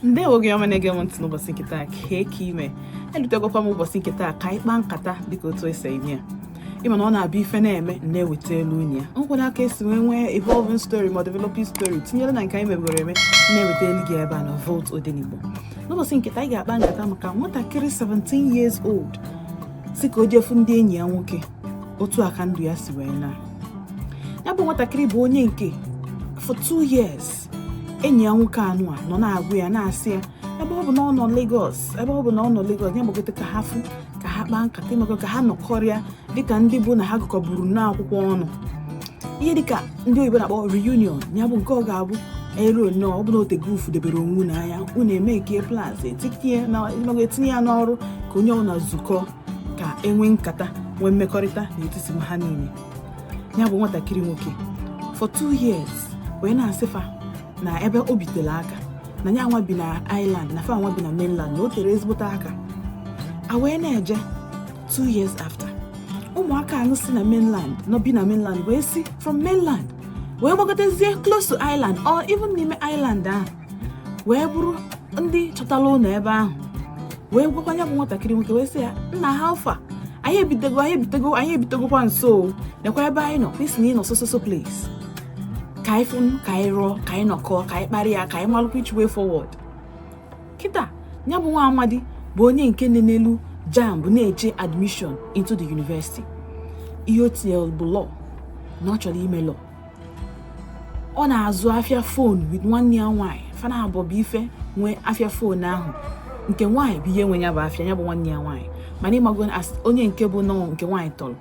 ndewo ndị ọma na-ege m ntị n'ụbọchị nke taa kee ka ime elutegokwa m ụbọchị nke taa ka anyị kpaa nkata dịka otu esi eme ya ịma na ọ na-abịa ife na-eme na-ewetalụ unu ya nkwụ n'aka esi wee nwee evolving story ma developing story tinyere na nke anyị mebere eme na-ewetalụ gị ebe a na Volt Odenigbo n'ụbọchị nke taa anyị ga-akpa nkata maka nwatakịrị 17 years old sị ka o jee fụ ndị enyi ya nwoke otu a ka ndụ ya si wee naa ya bụ nwatakịrị bụ onye nke for two years enyi ya nwoke anụ a nọ na-agwa ya na-asị ya ebe ọ bụ na ọ nọ Lagos ebe ọ bụ na ọ nọ Lagos ya gbagote ka ha fụ ka ha kpaa nkata ịmago ka ha nọkọrịa dịka ndị bụ na ha gụkọburu n'akwụkwọ ọnụ ihe dịka ndị oyibo na-akpọ reunion ya bụ nke ọ ga-abụ eruo nnọọ ọ bụlụ na o tego unu fụdebere onwe unu anya unu e make plans etinye ya n'ọrụ ka onye ọbụla zukọ ka e nwee nkata nwee mmekọrịta n'etiti ha niile ya bụ nwatakịrị nwoke for two years wee na-asị fa na ebe o bi tere aka na ya nwa bi na island na fa nwa bi na mainland na o tere ezigbote aka a wee na-eje two years after ụmụaka anụ si na mainland nọ bi na mainland wee si from mainland wee gbagotezie close to island or even n'ime island ahụ wee bụrụ ndị chọtara ụlọ ebe ahụ wee gwakwa ya bụ nwatakịrị nwoke wee sị ya nna how far anyị ebitego anyị ebitego anyị ebitegokwa nso nekwa ebe anyị nọ ị sị na ị nọ so so so place ka anyị fụnụ ka anyị rụọ ka anyị nọkọọ ka anyị kparịa ya ka anyị malụkwa which way forward kịta ya bụ nwa amadi bụ onye nke nenelụ jamb na-eche admission into the university ihe o tinyere bụ law na ọ chọrọ ime law ọ na-azụ afịa phone with nwanne ya nwaanyị fa naabụọ bụ ife nwee afịa phone ahụ nke nwaanyị bụ ihe nwe ya bụ afịa ya bụ nwanne ya nwaanyị mana ịmago onye nke bụ na nke nwaanyị tọrọ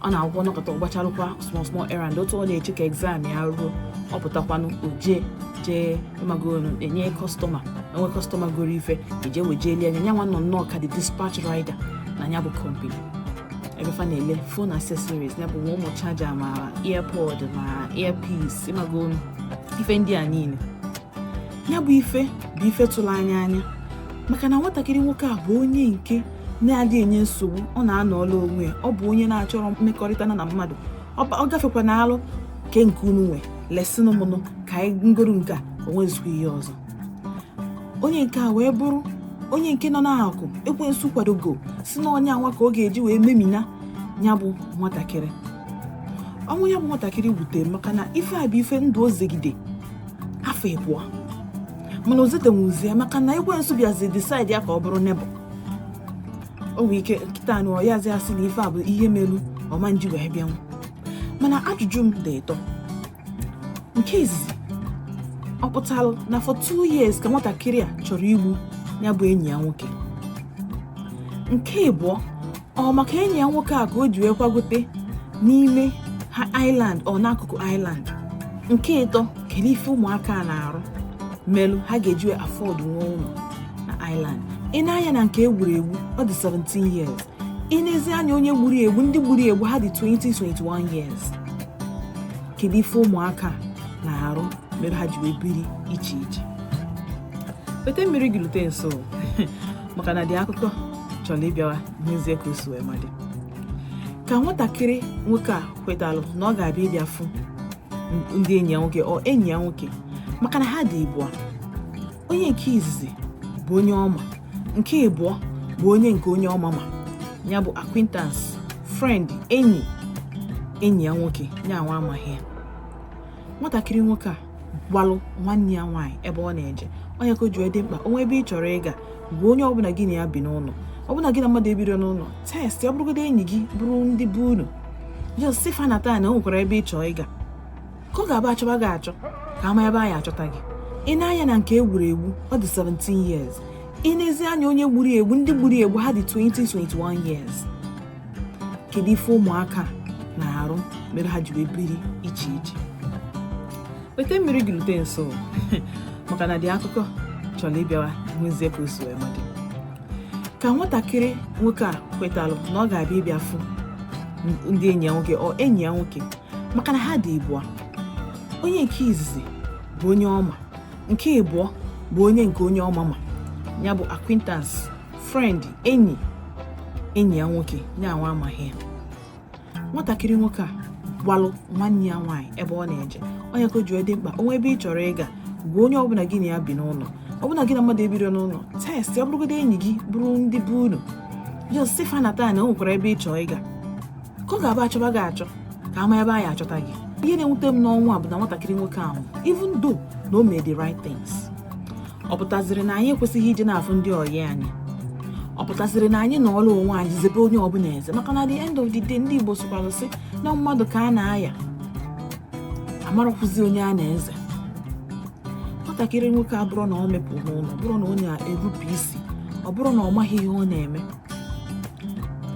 ọ na-agwọ nọkọta ọ gbacharụkwa small small errand otu ọ na-eche ka exam ya ruo ọ pụtakwanụ o je jee ịmago e nwee customer e nwee customer goro ife eje wejelie na ya nwa nọ nnọọ ka the dispatch rider na ya bụ company ebe fa na-ele phone accessories ya bụ nwa ụmụ charger ma earpod ma earpiece ịmago ife ndị a niile ya bụ ife bụ ife tụrụ anya anya maka na nwatakịrị nwoke a bụ onye nke na-adị enye nsogbu ọ na-anọọlụ onwe ya ọ bụ onye na-achọrọ mmekọrịta na na mmadụ ọ gafekwa na alụ kee nke unu nwe lesinụ mụ nụ ka anyị ngoro nke a o nwezikwa ihe ọzọ onye nke a wee bụrụ onye nke nọ n'aka ekwensu kwadogo sị na onye anwa ka ọ ga-eji wee memina ya bụ nwatakịrị ọnwụ ya bụ nwatakịrị wutere maka na ife a bụ ife ndụ o zegide afọ ịbụọ mana o zetenwuzie maka na ekwensu bịazi decide ya ka ọ bụrụ nebụ o nwee ike kịta anụ ọyazi asị na ife a bụ ihe melu ọma nji wee bịanwu mana ajụjụ m dị ịtọ nke izizi ọ pụtara na for two years ka nwatakịrị a chọrọ igbu ya bụ enyi ya nwoke nke ịbụọ ọ maka enyi ya nwoke a ka o ji wee kwagote n'ime ha island or n'akụkụ island nke ịtọ kedu ife ụmụaka a na-arụ melụ ha ga-eji wee afford nwee ụlọ na island i nee anya na nke e gburu egbu ọ dị 17 years i nezie anya onye gburu egbu ndị gburu egbu ha dị 20-21 years kedu ife ụmụaka na-arụ mere ha ji wee biri iche iche weta mmiri gị lute nso maka na the akụkọ chọrọ ịbịawa nezie ka o si wee mee dịka nwatakịrị nwoke a kwetalụ na ọ ga-abịa ịbịa fụ ndị enyi ya nwoke or enyi ya nwoke maka na ha dị ịbụọ onye nke izizi bụ onye ọ ma nke ịbụọ bụ onye nke onye ọ ma ma ya bụ acquaintance friend enyi enyi ya nwoke ya nwa amaghị ya nwatakịrị nwoke a gwalụ nwanne ya nwaanyị ebe ọ na-eje onye ka o ji dị mkpa o nwee ebe ị chọrọ ịga gwa onye ọbụla gị na ya bi n'ụlọ ọbụna gị na mmadụ ebiro n'ụlọ text ọ bụrụgodị enyi gị bụrụ ndị be unu just sị fa na taa na o nwekwara ebe ị chọrọ ịga ka ọ ga-abụ a chọba gị achọ ka a ma ebe anyị achọta gị i nee anya na nke e gburu egbu ọ dị 17 years i nezie anya onye gburu egbu ndị gburu egbu ha dị 20-21 years kedu ife ụmụaka na-arụ mere ha ji wee biri iche iche weta mmiri gị rute nso maka na the akụkọ chọrọ ịbịawa nezie ka o si wee mee dịka nwatakịrị nwoke a kwetalụ na ọ ga-abịa ịbịa fụ ndị enyi ya nwoke or enyi ya nwoke maka na ha dị ịbụọ onye nke izizi bụ onye ọ ma nke ịbụọ bụ onye nke onye ọ ma ma ya bụ acquaintance friend enyi enyi ya nwoke ya nwa amaghị ya nwatakịrị nwoke a gwalụ nwanne ya nwaanyị ebe ọ na-eje onye ka o ji dị mkpa o nwee ebe ị chọrọ ịga gwa onye ọbụla gị na ya bi n'ụlọ ọbụna gị na mmadụ ebiro n'ụlọ text ọ bụrụgodị enyi gị bụrụ ndị be unu just sị fa na taa na o nwekwara ebe ị chọrọ ịga ka ọ ga-abụ a chọba gị achọ ka a ma ebe anyị achọta gị ihe na-ewute m n'ọnwụ a bụ na nwatakịrị nwoke ahụ even though na o mee the right things ọ pụtaziri na anyị ekwesịghị iji na-afụ ndị ọyị anyị ọ pụtaziri na anyị nọrọ onwe anyị zebe onye ọbụla eze maka na the end of the day ndị Igbo sịkwara sị na mmadụ ka a na-aya amarọkwazị onye a na-eze nwatakịrị nwoke a bụrụ na ọ mepụ n'ụlọ bụrụ na ọ na-enupụ isi ọ bụrụ na ọ maghị ihe ọ na-eme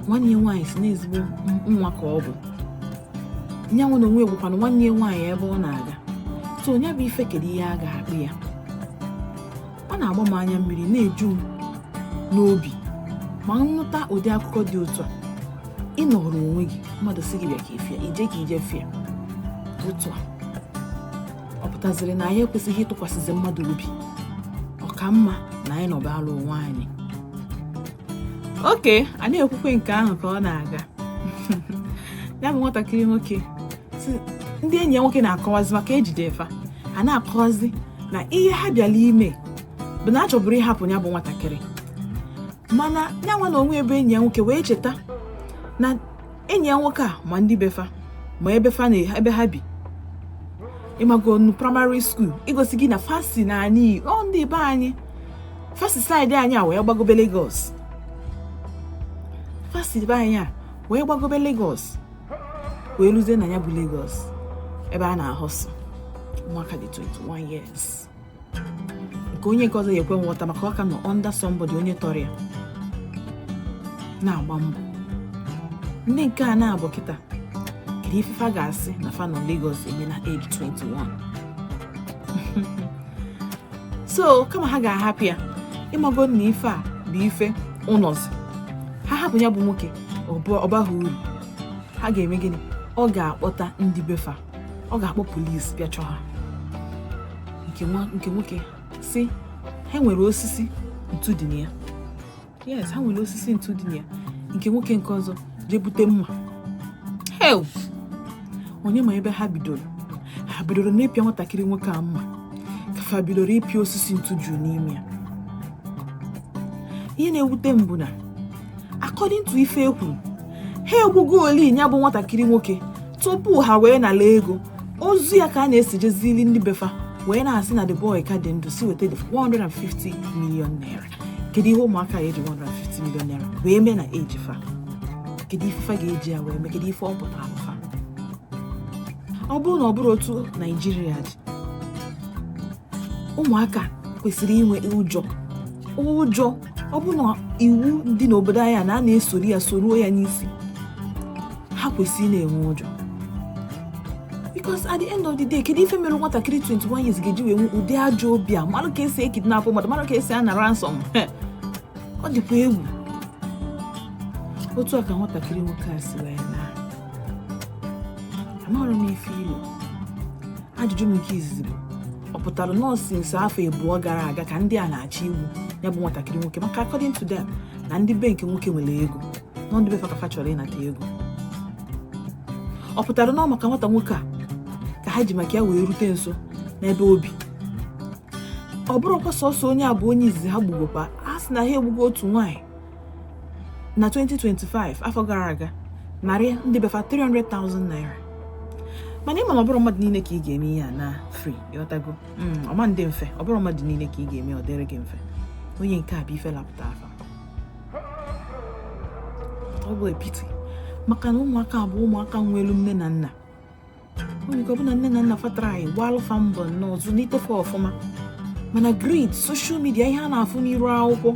nwanne ya nwaanyị sị na ezigbo nwa ka ọ bụ nya nwa na onwe gwakwanụ nwanne ya nwaanyị ebe ọ na-aga so nya bụ ife kedu ihe a ga-akpọ ya ọ na-agba m anya mmiri na-eju m n'obi ma m nụta ụdị akụkọ dị otu a ị nọrọ onwe gị mmadụ sị gị bịa ka ifia ije ka ije fịa otu a ọ pụtaziri na anyị ekwesịghị ịtụkwasịzi mmadụ obi ọ ka mma na anyị nọbalụ onwe anyị okay a na-ekwukwa nke ahụ ka ọ na-aga ya bụ nwatakịrị nwoke ndị enyi ya nwoke na-akọwazi maka ejide fa a na-akọwazi na ihe ha bịara ime bụ na a chọburu ịhapụ ya bụ nwatakịrị mana ya nwa na onwe bụ enyi ya nwoke wee cheta na enyi ya nwoke a ma ndị be fa ma ebe fa na ebe ha bi ịmago nu primary school igosi gị na fa si na anyị ọ ndị be anyị fa si side anyị a wee gbagobe Lagos fa si be anyị a wee gbagobe Lagos wee ruzie na ya bụ Lagos ebe a na-ahọsụ ụmụaka dị 21 years nke onye nke ọzọ ya-ekwe nghọta maka ọ ka nọ under somebody onye tọrọ ya na-agba mbọ ndị nke a na-abụ kịta kedu ife fa ga-asị na fa nọ Lagos eme na age 21 so kama ha ga-ahapụ ya ịmago na ife a bụ ife ụnọzi ha hapụ ya bụ nwoke ọ baghị uru ha ga-eme gịnị ọ ga-akpọta ndị be fa ọ ga-akpọ polisi bịa chọọ ha nke nwoke sị ha nwere osisi ntu dị na ya yes ha nwere osisi ntu dị na ya nke nwoke nke ọzọ jee bute mma hei onye ma ebe ha bidoro ha bidoro n'ịpịa nwatakịrị nwoke a mma ka fa bidoro ịpịa osisi ntu juru n'ime ya ihe na-ewute m bụ na according to ife ekwuru ha egbugooli ya bụ nwatakịrị nwoke tupu ha wee nala ego ozu ya ka a na-esijezili ndị be fa wee na-asị na the boy ka dị ndụ sị weta the 150 million naira kedu ihe ụmụaka ya-eji 150 million naira wee mee na eji fa kedu ife fa ga-eji ya wee mee kedu ife ọ pụtara fa ọ bụrụ na ọ bụrọ otu Naijiria dị ụmụaka kwesịrị inwe ụjọ ụjọ ọ bụ na iwu dị n'obodo anyị a na a na-esoro ya soruo ya n'isi ha kwesịrị na-enwe ụjọ because at the end of the day kedu ife mere nwatakịrị 21 years ga-eji wee nwe ụdị ajọ obi a mara ka esi ekidnapụ mmadụ mara ka esi ana ransom ọ dịkwa egwu otu a ka nwatakịrị nwoke a si wee amarọ m ife i lo ajụjụ m nke izizi bụ ọ pụtara na ọ since afọ abụọ gara aga ka ndị a na-achọ igbu ya bụ nwatakịrị nwoke maka according to them na ndị be nke nwoke nwere ego na ọ ndị be fa ka fa chọrọ ịnata ego ọ pụtara na ọ maka nwata nwoke a ka ha ji maka ya wee rute nso n'ebe o bi ọ bụrọkwa sọsọ onye a bụ onye izizi ha gbugokwa a sị na ha egbugo otu nwaanyị na 2025 afọ gara aga narị ndị be fa 300,000 naira mana ị ma na ọ bụrọ mmadụ niile ka ị ga-eme ihe a na free ị ghọtago hmm, ọ ma dị mfe ọ bụrọ mmadụ niile ka ị ga-eme ọ dịrị gị mfe onye nke a bụ ife lapụtara fa ọ bụ a pity maka na ụmụaka bụ ụmụaka nwelu nne na nna onye ọ bụla nne na nna fa try gbaalụ fa mbọ nnọọ zụlite fa ọfụma mana greed social media ihe a na-afụ n'iru akwụkwọ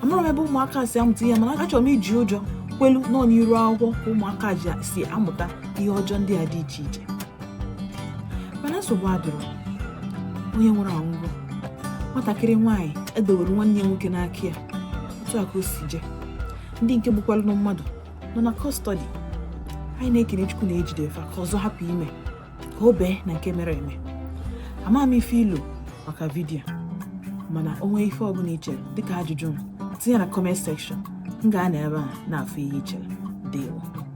amarọ m ebe ụmụaka si amụta ihe mana achọrọ m iji ụjọ kwelu na ọ n'iru akwụkwọ ka ụmụaka si amụta ihe ọjọọ ndị a dị iche iche mana nsogbu adịrọ onye nwụrụ anwụgo nwatakịrị nwaanyị edowere nwanne ya nwoke n'aka ya otu a ka o si jee ndị nke gbukwalụ mmadụ nọ na custody anyị na-ekene chukwu na ejide fa ka ọzọ hapụ ime ka o bee na nke mere eme ama m ife i lo maka video mana o nwee ife ọbụla i chere dịka ajụjụ m tinye na comment section m ga-anọ ebe ahụ na-afụ ihe i chere dewo